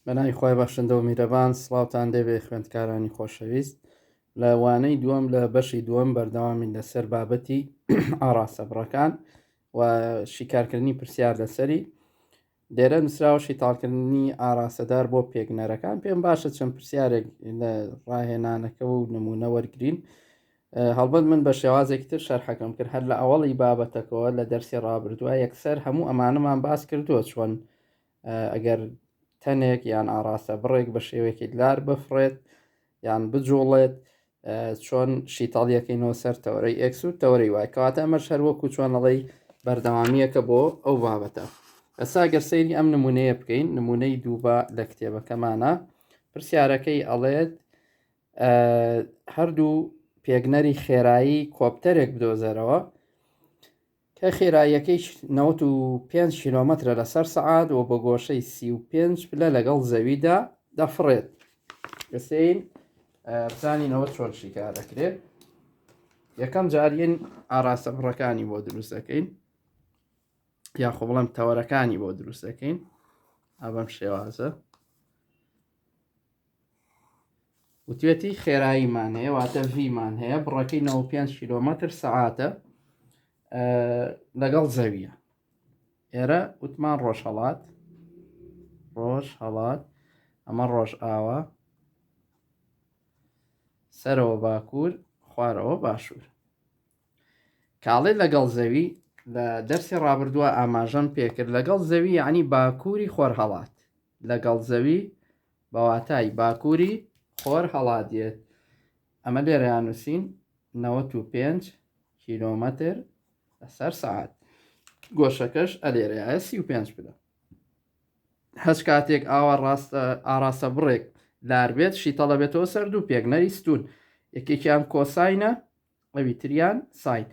بەناوی خۆی بەخشندە و میرەبان سڵاوتان دەبێ خوێندکارانی خۆشەویست لە وانەی دووەم لە بەشی دووەم بەردەوامی لەسەر بابەتی ئاڕاستە بڕەکان و شیکارکردنی پرسیار لەسەری دێرە نووسراوە شیتاڵکردنی ئاراستەدار بۆ پێگنەرەکان پێم باشە چەند پرسیارێک لە ڕاهێنانەکە و نمونە وەرگین هەڵبەت من بە شێوازێکی تر شەرحەکەم کرد هەر لە ئەوەڵی بابەتەکەەوە لە دەرسی ڕابردووە یەکسەر هەموو ئەمانەمان باس کردووە چۆن ئەگەر تەنێک یان ئاراستە بڕێک بە شێوەیەکی لار بفڕێت یان بجوڵێت چۆن شیتاڵیەکەینەوە سەر تەورەی ئەکس و تەورەی وای کەواتە ئەمەش هەر وەکو چۆنەڵی بەردەوامیەکە بۆ ئەو بابەتە ئەسا گەر سەیری ئەم نمونەیە بکەین نمونەی دووبا لە کتێبەکەمانە پرسیارەکەی ئەڵێت هەردوو پێگنەری خێرایی کۆپتەرێک بدۆزەرەوە کە خێراییەکەی نەوەد و پێنج کیلۆمەترە لەسەر سەعات و بە گۆشەی سی و پێنج پلە لەگەڵ زەویدا دەفڕێت بسین بزانینەوە چۆن شیکار دەکرێت یەکەم جارین ئاراستە بڕەکانی بۆ دروست دەکەین یاخۆ بڵم تەوەرەکانی بۆ دروست دەکەین ئابم شێوازە وتێتی خێراییمان هەیە واتە ڤیمان هەیە بڕەکەی 95 کیلومتر سەعاتە لەگەڵ زەویە ئێرە وتمان ڕۆژهڵات ڕۆژ هەڵات ئەمە ڕۆژ ئاوا سەرەوە باکوور خوارەوە باشوور کاڵێ لەگەڵ زەوی لە دەرسی ڕابردووە ئاماژەم پێکرد لەگەڵ زەوی عنی باکووری خۆرهڵات لەگەڵ زەوی بە واتای باکووری خۆر هەڵادێت. ئەمە لێرەیان نووسین نەوەت و پێنج کیلۆمەتر لەسەر سەعات. گۆشەکەش ئەلێرەیە سی و پێنج پلە. هەچ کاتێک ئاوا ڕاستە ئاراستە بڕێک لار بێت شیتەڵە بێتەوە سەر دوو پێگنەری ستون یەکێکیان کۆساینە ئەوی تریان ساین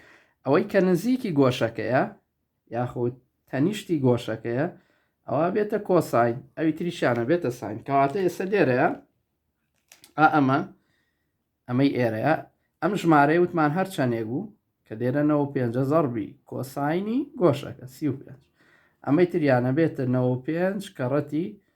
ئەوەی کە نزیکی گۆشەکەیە یاخود تەنیشتی گۆشەکەیە ئەوە بێتە کۆساین ئەوی تریشانە بێتە ساین کەواتە ئێستا لێرەیە ئا ئەمە ئەمەی ئێرەیە ئەم ژمارەی وتمان هەر چەندێک بوو کە دێرەەوە پێ زەڕبی کۆساینی گۆشەکە سی پێ ئەمەی تریانە بێتە 95 کەڕەتی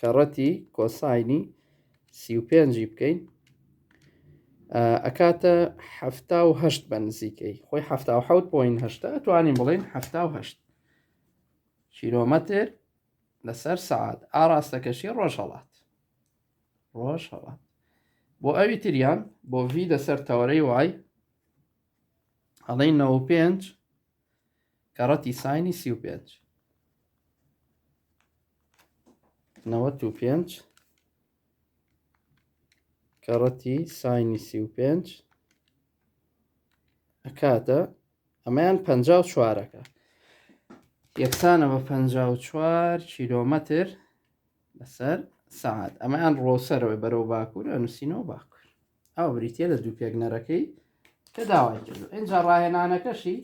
کەڕەتی کۆساینی سی و پێنجی بکەین ئەکاتە هەفتا و هەشت بە نزیکەی خۆی هەفتا و حوت پۆین هەشتا توانین بڵێن هەفتا و هەشت کیلۆمەتر لەسەر سعات ئاراستەکەشی ڕۆژهڵات ڕۆژهڵات بۆ ئەوی تریان بۆ ڤی لەسەر تەوەرەی وای ئەڵێ 95 کەڕەتی ساینی سی و پێنج نەوەت و پێنج کەڕەتی ساینی سی و پێنج ئەکاتە ئەمەیان پ چوارەکە یەکسانە بە پ چوار کیلۆمەتر لەسەر سعات ئەمەیان ڕۆسەرەوەی بەرەو باکوور ئەنووسینەوە باکوور ئەوە بریتە لە دوو پێکنەرەکەی کە داوای کرد ئینجا ڕاهێنانەکەشی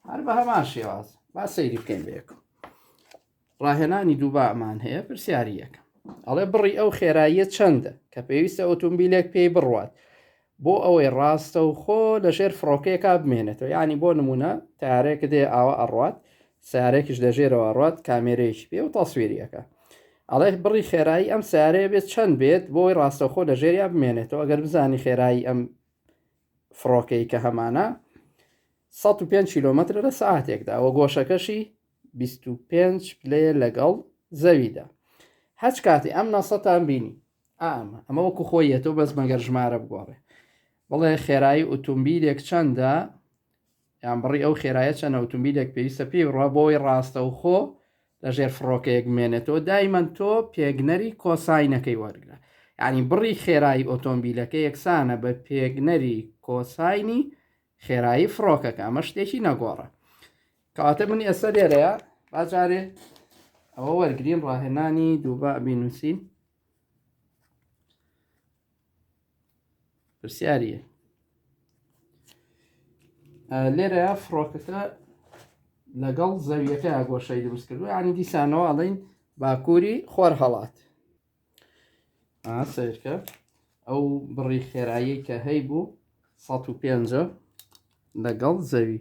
هەر بە هەمان شێواز با سەیری بکەین بەیەکم ڕاهێنانی دووبامان هەیە پرسیاری یەکەم ئەڵێ بڕی ئەو خێراییە چەندە کە پێویستە ئۆتومبیلێک پێی بڕوات بۆ ئەوەی ڕاستە و خۆ لە ژێر فڕۆکەیەکا بمێنێتەوە ینی بۆ نمونە تارێک دێ ئاوە ئەڕات سارێکیش لە ژێرەوە ڕات کامێرەیەکی پێ و تەسوێریەکە ئەڵێ بڕی خێرایی ئەم سیارەیە بێت چەند بێت بۆی ڕاستەوخۆ لە ژێریا بمێنێتەوە ئەگەر بزانی خێرایی ئەم فڕۆکەی کە هەمانە 105 کیلومتر لە سعاتێکدا و گۆشەکەشی 25 پلێ لەگەڵ زەویدا هەچ کاتی ئەم ناسەتان بینی ئامە ئەمە وەکو خۆیەتەوە بەس مەگەر ژمارە بگۆڕێ بڵێ خێرایی ئۆتومبیلێک چەندە یان بڕی ئەو خێرایە چەنە ئوتومبیلێک پێویستە پێی بڕوا بۆوەی ڕاستەوخۆ لە ژێر فڕۆکەیەک بمێنێتەوە دایمەن تۆ پێگنەری کۆساینەکەی وەرگرە یعنی بڕی خێرایی ئۆتۆمبیلەکە یەکسانە بە پێگنەری کۆساینی خێرایی فڕۆکەکە ئەمە شتێکی نەگۆڕە کەواتە من ئێستا لێرەیە باجارێ ئەوە وەرگین ڕاهێنانی دووبا بینوسین پرسیاریە لێرە فڕۆکەکە لەگەڵ زەویەکە گۆشەی دروست کردو ینی دیسانەوە ئەڵین باکووری خۆر هەڵات سیرکە ئەو بڕی خێرایی کە هەی بوو 150 لەگەڵ زەوی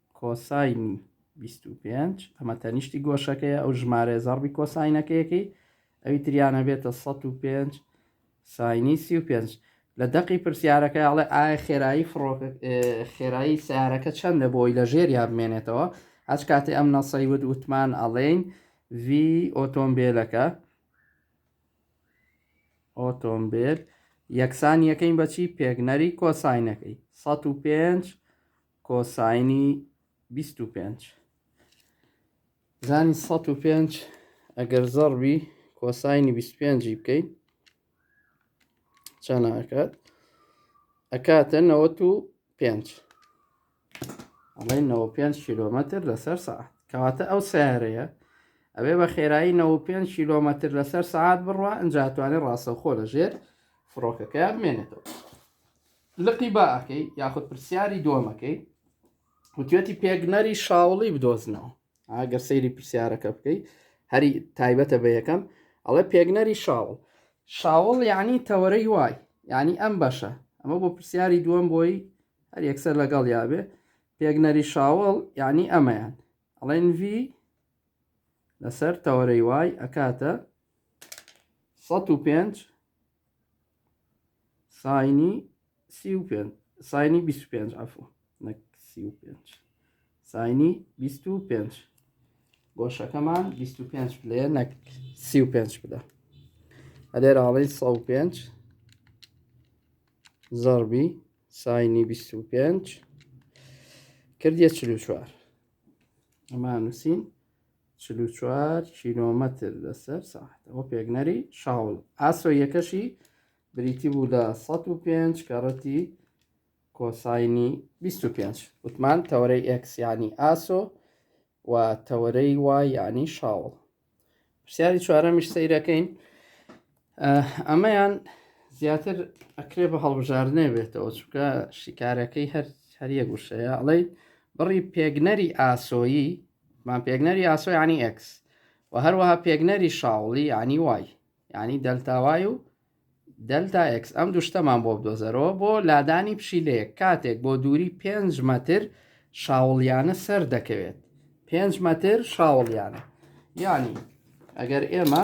کۆساینی بیست و پێنج، ئەمە تەنیشتی گۆشەکەیە، ئەو ژمارەیە زەڕبی کۆساینەکەیەکەی ئەوی تریان ئەبێتە سەد و پێنج ساینی سی و پێنج. لە دەقی پرسیارەکە ئەڵێ ئایا خێرایی فڕۆکە خێرایی سیارەکە چەندە بۆی لە ژێریا بمێنێتەوە هەچ کاتی ئەم نەسەی ود وتمان ئەڵێین وی ئۆتۆمبیلەکە ئۆتۆمبیل یەکسان یەکەین بەچی پێگنەری کۆساینەکەی 105 کۆساینی بیست و پێنج زانی سەد و پێنج ئەگەر زەڕبی کۆساینی بیست و پێنجی بکەین چەند ئەکات ئەکاتە نەوەت و پێنج ئەڵێ نەوە پێنج کیلۆمەتر لەسەر سەعات کەواتە ئەو سیارەیە ئەوێ بە خێرایی 95 کیلۆمەتر لەسەر سعات بڕە ئەجاتوانێت ڕاستەخۆ لە ژێر فڕۆکەکە بمێنێتەوە لقی با ئەکەی یاخود پرسیاری دووەمەکەی وتێتی پێگنەری شاوڵی بدۆزنەوە ئاگەر سەیری پرسیارەکە بکەی هەری تایبەتە بە یەکەم ئەڵێ پێگنەری شاوڵ شاوڵ یعنی تەوەرەی وای یعنی ئەم بەشە ئەمە بۆ پرسیاری دووەم بۆی هەر یەکسەر لەگەڵ یاێ پێگنەری شاوڵ یعنی ئەمەیان ئەڵێن وی لەسەر تەوەرەی وای ئەکاتە 105 ساینی سی و پێنج ساینی بیست و پێنج عفو نەک سی و پێنج ساینی بیست و پێنج گۆشەکەمان بیست و پێنج بلێ نەک سی و پێنج بدە ئەلێرە ئاڵی سە و پێنج زەربی ساینی بیست و پێنج کردیە چل و چوار ئەمانوسین چل و چوار کیلۆمەتر لەسەر ساعت ئەوە پێگنەری شاوڵ ئاسۆ یەکەشی بریتی بوو لە 105 کەڕەتی کۆساینی 25 وتمان تەوەرەی ئەکسیانی ئاسۆ و تەوەرەی وایانی شاوڵ پرسیاری چوارەمیش سەیرەکەین ئەمەیان زیاتر ئەکرێ بە هەڵبژاردنێ بێتەوە چونکە شیکارەکەی هەر هەریەک وشەیە ئەڵێ بڕی پێگنەری ئاسۆیی مان پێگنەری ئاسۆی عنی ئەکس و هەروەها پێگنەری شاوڵی عنی وای ینی دەلتاوای و دەلتا ئەکس ئەم دوشتەمان بۆ بدۆزەرەوە بۆ لادانی پشیلەیەک کاتێک بۆ دووری 5 مەتر شاوڵیانە سەر دەکەوێت 5 مەتر شاوڵیانە ینی ئەگەر ئێمە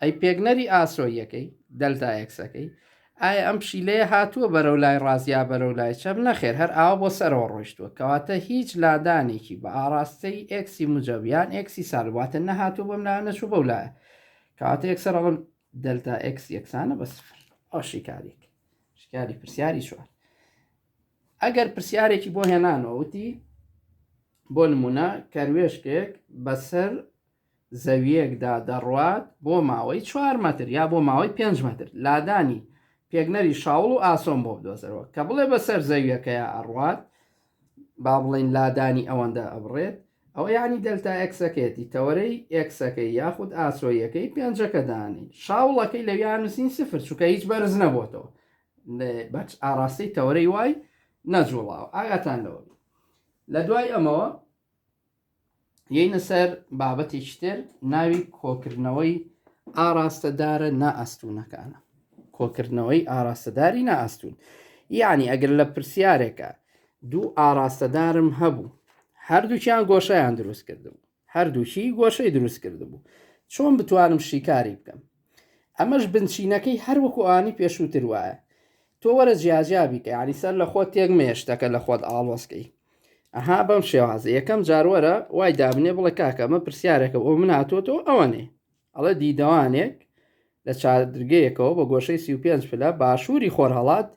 ئەی پێگنەری ئاسۆییەکەی، دەلتا ئێکسەکەی، ئایا ئەم پشیلەیە هاتووە بەرەو لای ڕاست یا بەرەو لای چەپ؟ نەخێر هەر ئاوا بۆ سەرەوە ڕۆیشتووە، کەواتە هیچ لادانێکی بە ئاڕاستەی ئێکسی موجەب یان ئێکسی سالب واتە نەهاتووە بەم لایەو نەچووە بەو لایە، کەواتە یەکسەر ئەڵێم دەلتا ئێکس یەکسانە بە سفر. ئەو شیکاریک شیکاری پرسیاری چوار ئەگەر پرسیارێکی بۆ هێنانەوە وتی بۆ نمونە کەروێشکێک بەسەر زەوییەکدا دەڕوات بۆ ماوەی چوار مەتر یا بۆ ماوەی پێنج مەتر لادانی پێگنەری شاوڵ و ئاسۆم بۆ بدۆزەرەوە کە بڵێ بەسەر زەوییەکەیا ئەڕوات با بڵێین لادانی ئەوەندە ئەبڕێت ئەوە یعنی دەلتا ئەکسەکەیەتی تەوەرەی ئەکسەکەی یاخود ئاسۆیەکەی پێنجەکە دانی شاوڵەکەی لەویان نووسین سفر چووکە هیچ بەرز نەبووتەوە بەچ ئاراستەی تەوەرەی وای نەجوڵاوە ئاگاتان لەوە لە دوای ئەمەوە یەینە سەر بابەتێکی تر ناوی کۆکردنەوەی ئاراستەدارە نائەستونەکانە کۆکردنەوەی ئاراستەداری نائەستون یعنی ئەگەر لە پرسیارێکە دوو ئاراستەدارم هەبوو هەردووکیان گۆشەیان دروست کردبوو هەردووکی گۆشەی دروست کردبوو چۆن بتوانم شیکاری بکەم ئەمەش بنچینەکەی هەر وەکو ئانی پێشووتر وایە تۆ وەرە جیاجیا بیکە ینی سەر لە خۆت تێک مێشتەکە لە خۆت ئاڵۆسکەی ئەها بەم شێوازە یەکەم جارۆرە وای دابنێ بڵێ کاکە مە پرسیارەکە ئەو من هاتووەەوە ئەوەنێ ئەڵە دیدەوانێک لە چادرگەیەکەوە بە گۆشەی 35 پلە باشووری خۆرهڵات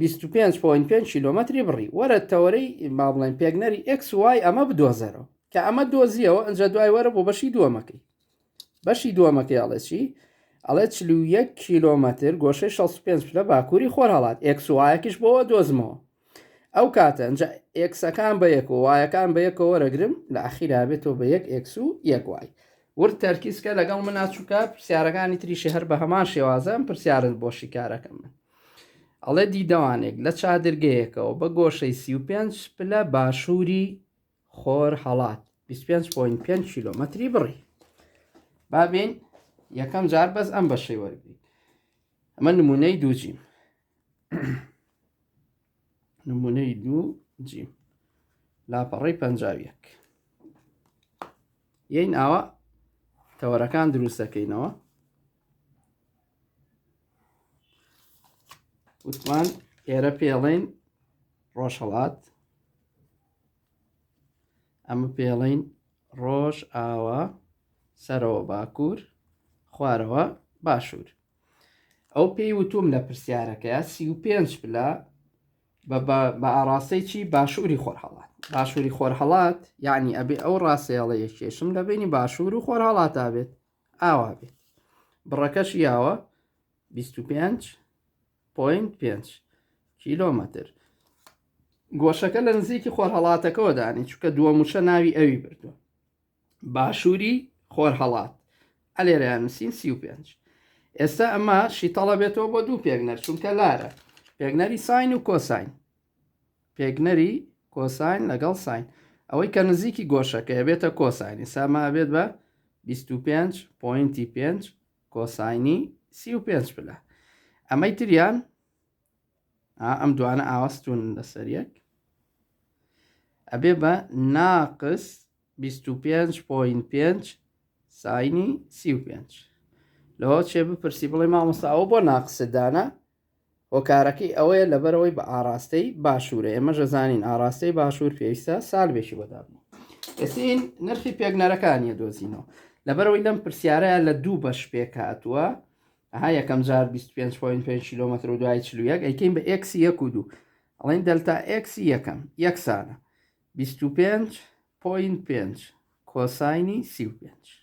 25.5 کیلومتری بڕی وەرە تەوەرەی با بڵێن پێگنەری ئەکس وای ئەمە بدۆزەرەوە کە ئەمە دۆزیەوە ئەجا دوای وەرە بۆ بەشی دووەمەکەی بەشی دووەمەکەی ئەڵێ چی ئەڵێ چ یەک کیلۆمەتر گۆشەی 65 پلە باکووری خۆر هەڵات ئێکسوایەکیش بۆەوە دۆزمەوە ئەو کاتە ئەجا ئێکسەکان بە یەک و وایەکان بە یەکەوە وەرەگرم لە ئاخیرا بێتەوە بە یەک ئێکس و یەک وای ورد تەرکیزکە لەگەڵ من ناچووکە پرسیارەکانی تریشی هەر بە هەمان شێوازم پرسیارن بۆ شیکارەکە من ئەڵێ دیدەوانێک لە چادرگەیەکەوە بە گۆشەی 35 پلە باشووری خۆر هەڵات 25.5 کیلۆمەتری بڕی بابین یەکەم جار بەس ئەم بەشەی وەرگیت ئەمە نمونەی دوو جیم نمونەی دوو جیم لاپەڕی پەنجاویەک یین ئاوا تەوەرەکان دروست دەکەینەوە وتمان ئێرە پێڵین ڕۆژهڵات ئەمە پێڵین ڕۆژ ئاوا سەرەوە باکوور خوارەوە باشوور ئەو پێی وتوم لە پرسیارەکەی سی و پێنج پلا بە ئاراستەیەکی باشووری خۆرهڵات باشووری خۆرهڵات یعنی ئەبێ ئەو ڕاستەیەڵەیە کێشم لە بینی باشوور و خۆرهڵاتا بێت ئاوا بێت بڕەکەش یاوە 25.5 کیلۆمەتر گۆشەکە لە نزیکی خۆرهڵاتەکەەوە دانی چکە دووە موچە ناوی ئەوی بردووە باشووری خۆرهڵات ئەلێرەیان نووسین 35 ئێستا ئەمە شیتەڵە بێتەوە بۆ دوو پێگنەر چونکە لارە پێگنەری ساین و کۆساین پێگنەری کۆساین لەگەڵ ساین ئەوەی کە نزیکی گۆشەکەی بێتە کۆسانی ساما بێت بە 25.5 کۆساینی سی و پێنج پلە ئەمەی تریان ئەم دوانە ئاوەستون لەسەر یەک ئەبێ بە ناقس 25.5 ساینی سی و پێنج لەوە چێ بپرسی بڵێ مامۆستا ئەوە بۆ ناقسدانە هۆکارەکەی ئەوەیە لەبەرەوەی بە ئاراستەی باشوورە ئێمەش دەزانین ئاراستەی باشوور پێویستە سالبێکی بۆ دابنێ ئێسین نرخی پێکنەرەکانیە دۆزینەوە لەبەرەوەی لەم پرسیارەیە لە دوو بەش پێک هاتووە ها یەکەم جار 25.5 کیلومتر و دوای چلوویەک ئەیکەین بە ئکس یەک و دوو ئەڵین دەلتا ئکس یەکەم یەکسانە 25.5 کۆساینی 35.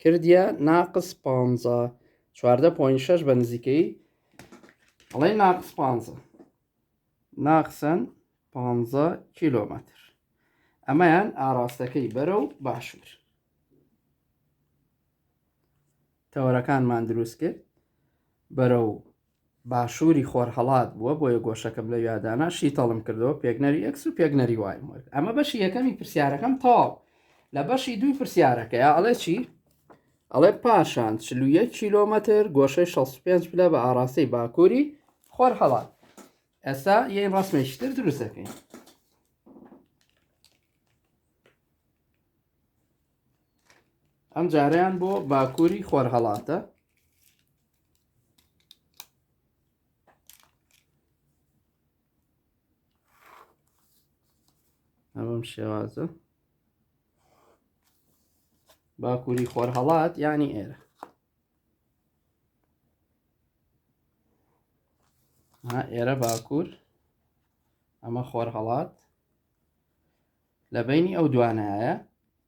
کردیە ناقس پانزە چواردە پۆین شەش بە نزیکەی ئەڵێ ناقس پانزە ناقسەن پانزە کیلۆمەتر ئەمەیان ئاراستەکەی بەرە و باشوور تەوەرەکانمان دروست کرد بەرە و باشووری خۆرهەڵات بووە بۆیە گۆشەکەم لەویا دانا شیتەڵم کردەوە پێگنەری ئێکس و پێگنەری وایم وەرد ئەمە بەشی یەکەمی پرسیارەکەم تەواو لە بەشی دووی پرسیارەکەی ئەڵێ چی ئەڵێ پاشان چلوە کیلۆمەتر گۆشەی 65 پلە بە ئاراستەی باکووری خۆر هەڵات ئێستا یەین ڕسمێکیتر دروست دەکەین ئەم جاریان بۆ باکووری خۆر هەڵاتە ئەمەم شێوازە باکووری خۆرهەڵات ینی ئێرە ئێرە باکوور ئەمە خۆرهەڵات لە بینی ئەو دوانایە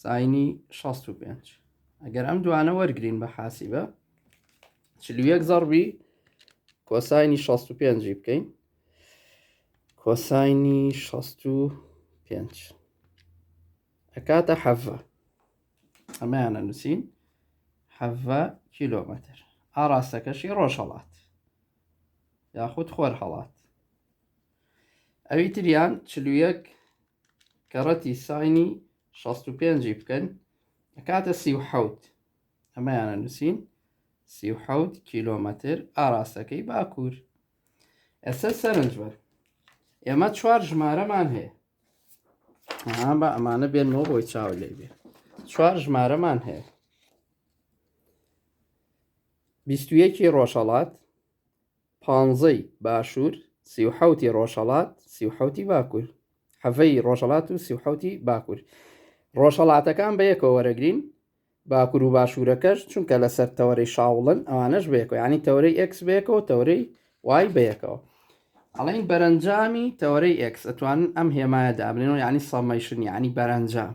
ساینی شەست و پێنج ئەگەر ئەم دوانە وەرگین بە حاسیبە چلویەک زەڕبی کۆساینی شەست و پێنجی بکەین کۆساینی شەست و پێنج ئەکاتە حەڤە ئەمەیانە نووسین حەڤە کیلۆمەتر ئاراستەکەشی ڕۆژهڵات یاخود خۆر هەڵات ئەوی تریان چل و یەک کەڕەتی ساینی شەست و پێنجی بکەن ئەکاتە سی و حەوت ئەمەیانە نووسین سی و حەوت کیلۆمەتر ئاراستەکەی باکوور ئێستا سەرنج بەر ئێمە چوار ژمارەمان هەیە ئەها بە ئەمانە بێنەوە بۆی چاو لێ بێ چوار ژمارەمان هەیە بیستویەکی ڕۆژهڵات پانزەی باشوور، سی و حەوتی ڕۆژهەڵات، سی و حەوتی باکوور. حەڤەی ڕۆژهەڵات و سی و حەوتی باکوور. ڕۆژهەڵاتەکان بە یەکەوە وەرەگرین، باکوور و باشوورەکەش چونکە لەسەر تەوەرەی شاوڵن ئەوانەش بە یەکەوە، یانی تەوەرەی ئێکس بە یەکەوە و تەوەرەی وای بە یەکەوە. ئەڵێین بەرەنجامی تەوەرەی ئێکس، ئەتوانن ئەم هێمایە دابنێن و یانی سەمەیشن یانی بەرەنجام.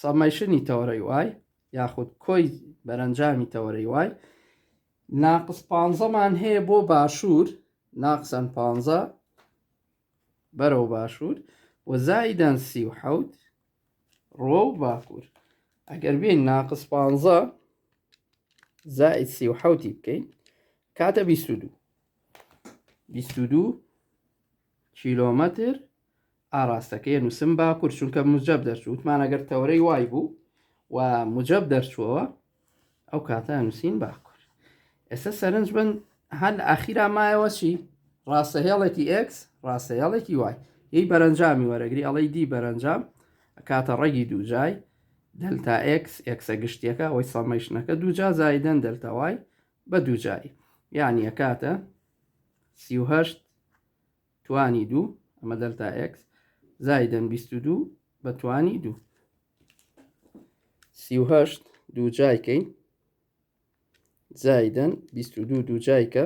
سەمەیشنی تەوەرەی وای یاخود کۆی بەرەنجامی تەوەرەی وای ناقس پانزەمان هەیە بۆ باشوور ناقسەن پانزە بەرەو باشوور و زایدەن سی و حەوت ڕۆ و باکوور ئەگەر بین ناقس پانزە زائد سی و حوتی بکەین کاتە بیست و دوو بیست و دوو کیلۆمەتر ئاراستەکەی نووسم باکوور چونکە موجەب دەرچوو وتمان ئەگەر تەورەی وای بوو و موجەب دەرچووەوە ئەو کاتە نووسین باکوور ئێستا سەرنج بن هەر لە ئاخیرا مایەوە چی ڕاستە هێڵێکی ئکس ڕاستە هێڵێکی وای هی بەرەنجامی وەرەگری ئەڵی دی بەرەنجام کاتە ڕێگی دووجای دەلتا ئکس ئکسە گشتیەکە ئەوەی سەمەیشنەکە دووجا زایدەن دەلتاوای بە دووجایی یعنی ئەکاتە سیهشت توانی دوو، ئەمە دەلتا ئێکس، زایدەن بیست و دوو بە توانی دوو. سی و هەشت دوو جایکەی زایدەن بیست و دوو دوو جایکە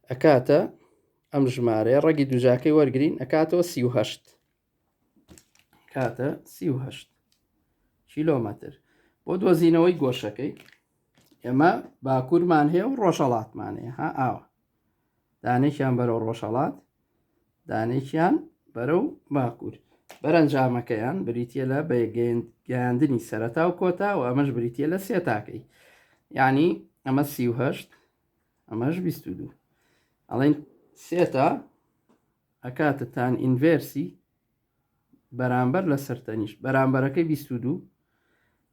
ئەکاتە ئەم ژمارەیە ڕەگی دووجاکەی وەرگین ئەکاتەوە سی و هەشت. کاتە سی و هەشت کیلۆمەتر بۆ دۆزینەوەی گۆشەکەی ئێمە باکوورمان هەیە و ڕۆژەڵاتمان هەیە ها ئاوە دانێکیان بەرەو ڕۆژەڵات دانێکیان بەرەو باکوور بەرەنجامەکەیان بریتە لە بەگەیاندنی سەرەتا و کۆتا و ئەمەش بریتە لە سێتاکەی یعنی ئەمە سیهشت ئەمەش بیست دوو ئەڵێن سێتا ئەکاتە تان ئینڤێرسی بەرامبەر لەسەر تەنیشت بەرامبەرەکەی بیست و دوو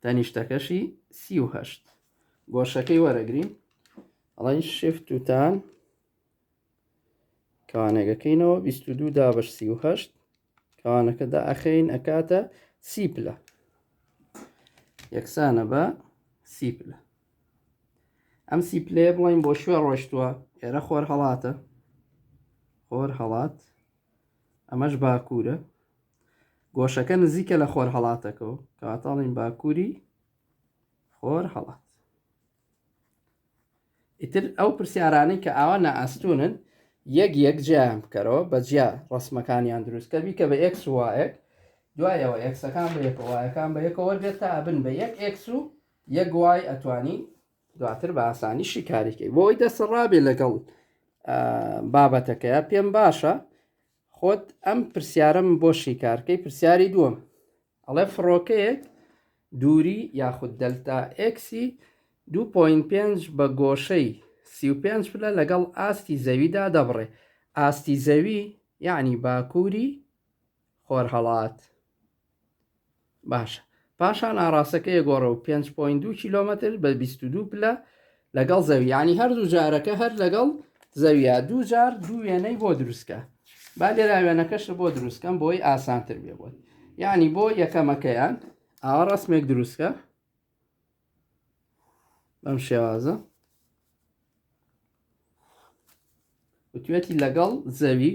تەنیشتەکەشی سی و هەشت گۆشەکەی وەرەگرین ئەڵین شفت و تان کەوانەگەکەینەوە بیست و دوو دابش سی و هەشت کەوانەکەدا ئەخەین ئەکاتە سی پلە یەکسانە بە سی پلە ئەم سی پلەیە بڵین بۆ شوێ ڕۆشتووە ئێرە خۆر هەڵاتە خۆر هەڵات ئەمەش باکوورە گۆشەکە نزیکە لە خۆر هەڵاتەکەەوە کاتاڵین باکووری خۆر هەڵات ئیتر ئەو پرسیارانی کە ئاوا نائاستونن یەک یەک جیان بکەرەوە بە جیا ڕسمەکانیان دروستکە بیکە بە ئەکس وایەک دوایەوە ئەکسەکان بە یەکەوەیەکان بە یەکەوە دێت تا بن بە یەک ئەکس و یەک وای ئەتوانی دواتر بە ئاسانی شیکاریکەی بۆی دەسە ڕابێ لەگەڵ بابەتەکەیە پێم باشە خۆت ئەم پرسیارم بۆ شیکارکەی پرسیاری دووەم ئەڵێ فڕۆکەیەک دووری یاخود دەلتا ئەکسی 2.5 بە گۆشەی 35 پلە لەگەڵ ئاستی زەویدا دەبڕێ ئاستی زەوی یعنی باکووری خۆرهەڵات باشە پاشان ئاراستەکەی گۆڕە و 5.2 کیلومتر بە 22 پلە لەگەڵ زەویانی هەردوو جارەکە هەر لەگەڵ زەویە دوو جار دوو وێنەی بۆ دروستکە با لێرا وێنەکەش بۆ دروستکەم بۆی ئاسانتر بێ بۆت یعنی بۆ یەکەمەکەیان ئاوا ڕسمێک دروستکە بەم شێوازە وتوێتی لەگەڵ زەوی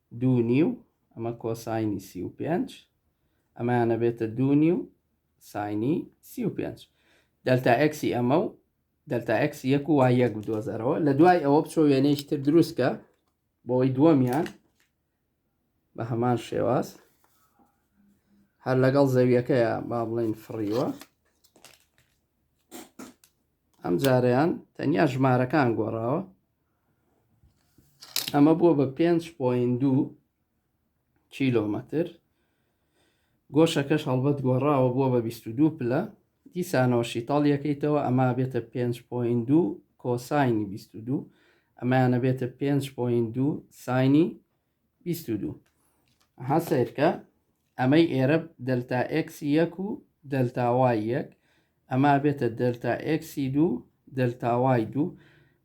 دوو نیو ئەمە کۆساینی سی و پێنج ئەمانە بێتە دوو نیو ساینی سی و پێنج دەلتا ئەکسی ئەمە و دەلتا ئەکس یەک و وای یەک بدۆزەرەوە لە دوای ئەوە بچۆ وێنەیش تر دروستکە بۆی دووەمیان بە هەمان شێواز هەر لەگەڵ زەویەکەیە با بڵین فڕیوە ئەم جارەیان تەنیا ژمارەکان گۆڕاوە ئەمە بووە بە پێنج پۆین دوو کیلۆمەتر گۆشەکەش هەڵبەت گۆڕاوە بووە بە بیست و دوو پلە دیسانەوە شیتاڵ یەکەیتەوە ئەما بێتە پێنج پۆین دوو کۆساینی بیست و دوو ئەمایانە بێتە پێنج پۆین دوو ساینی بیست و دوو. ها سەیرکە ئەمەی ئێرە دەلتا ئێکسی یەک و دەلتاوای یەک ئەما بێتە دەلتا ئێکسی دوو دەلتاوای دوو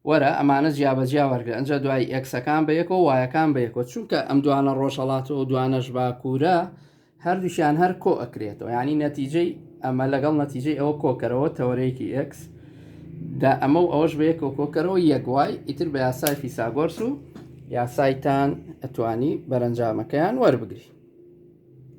وەرە ئەمانە جیابەجیا وەرگە ئەجا دوای ئەکسەکان بە یەکەوە وایەکان بە یەکەوە چونکە ئەم دوانە ڕۆژهڵاتەوە دوانەش باکوورە هەردووکیان هەر کۆ ئەکرێتەوە یانی نەتیجەی ئەمە لەگەڵ نەتیجەی ئەوە کۆکەرەوە تەوەرەیەکی ئێکس دا ئەمە و ئەوەش بە یەکەوە کۆکەرەوە یەک وای ئیتر بە یاسای فیساگۆرس و یاسایتان ئەتوانی بەرەنجامەکەیان وەربگری